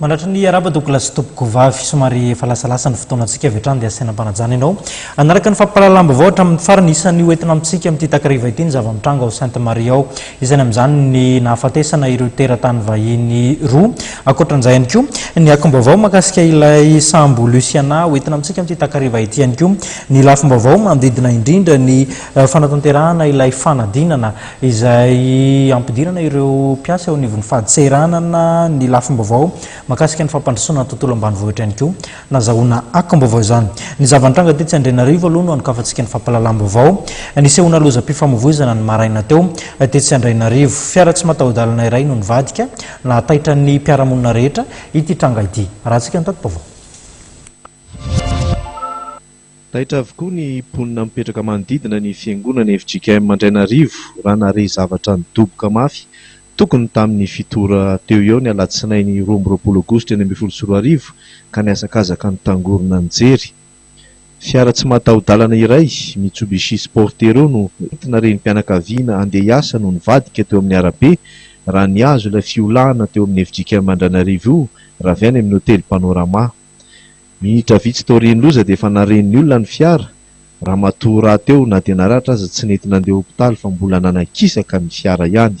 Manatry ny hiarahaba Douglas Tompokovavy. Somary efa lasalasa ny fotoanantsika avy hatrany dia asaina am-panajana ianao. Hanaraka ny fampahalalam-baovao hatramin'ny farany. Isan'ny ho entina amintsika amin'ity takariva ity ny zava-mitranga ao Sainte Marie ao. Isany amin'izany ny nahafatesana ireo teratany vahiny roa. Ankoatran'izay ihany koa ny akom-baovao mahakasika ilay sambo Luciana ho entina amintsika amin'ity takariva ity ihany koa ny lafim-baovao manodidina indrindra ny fanatanterahana ilay fanadinana izay ampidirana ireo mpiasa eo anivon'ny fadseranana ny lafim-baovao makasika ny fampandrosoana ny tontolo ambanivohitra ihany koa. Nazahoana akom-baovao izany. Ny zava-nitranga tetsy Andrianarivo aloha no anokafantsika ny fampahalalam-baovao. Nisehoana lozam-pifamovoizana ny maraina teo, tetsy Andrainarivo. Fiara tsy mataho-dalana iray no nivadika, nahataitra ny mpiara-monina rehetra ity tranga ity. Arahantsika ny tati-baovao. Taitra avokoa ny mponina mipetraka manodidina ny fiangonana fjkm Andrainarivo raha naharehy zavatra nidoboka mafy tokony tamin'ny fito ora teo eo ny alatsinainy roa amby roapolo aogositra enina ambin'ny folo sy roa arivo ka nihazakazaka nitangorona nijery fiara tsy mataho-dalana iray Mitsubishi Sportero no nentina renim-pianakaviana handeha hiasa no nivadika teo amin'ny arabe raha nihazo ilay fiolahana teo amin'ny fjkm Andrainarivo io raha avy any amin'ny hotely Panorama. Minitra vitsy taorian'ny loza dia efa naren'ny olona ny fiara, ramatoa rahateo na dia naratra aza tsy nety nandeha hopitaly fa mbola nanakisaka ny fiara ihany.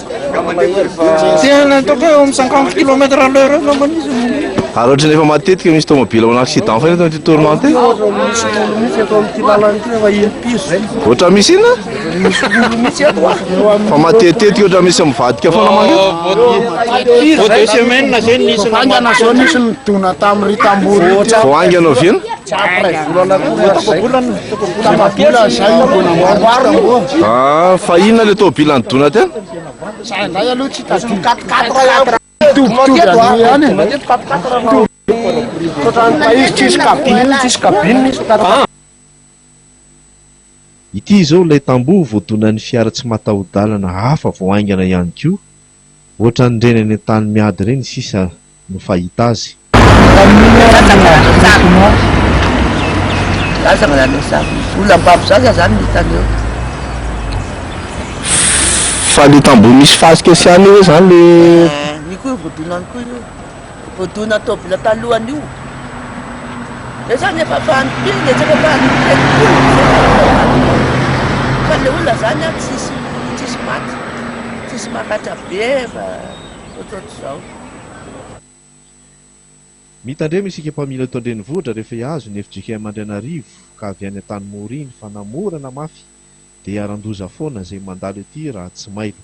Dia ny ataoko eo amin'ny cinquante kilomètre à l'heure eo angambany izy no. Ary ohatrany efa matetika misy tomobila manao accident foana eto amin'ity tournant ity. Ohatra misy inona? Fa matetitetika ohatra misy mivadika foana mantsy. Vao haingana avy eo? Ah fa inona le tôbila nidona teo? Ity izao ilay tamboho voadonan'ny fiara tsy mataho-dalana hafa vao haingana ihany koa. Ohatran'ireny any an-tany miady ireny sisa no fahita azy. Fa le tamboho misy fasika sy an'io ve zany le. Voadona tôbila talohan'io. Zay zany efa fahantrena e, tsy efa fahantrena koa fa le olona zany an tsisy tsisy maty, tsisy maratra be fa ohatrohatr'izao. Mitandrema isika mpamily eto an-drenivohitra rehefa hihazo ny fjkm Andrianarivo ka avy any Antanimora iny fa na mora na mafy dia hiharan-doza foana izay mandalo ety raha tsy mailo.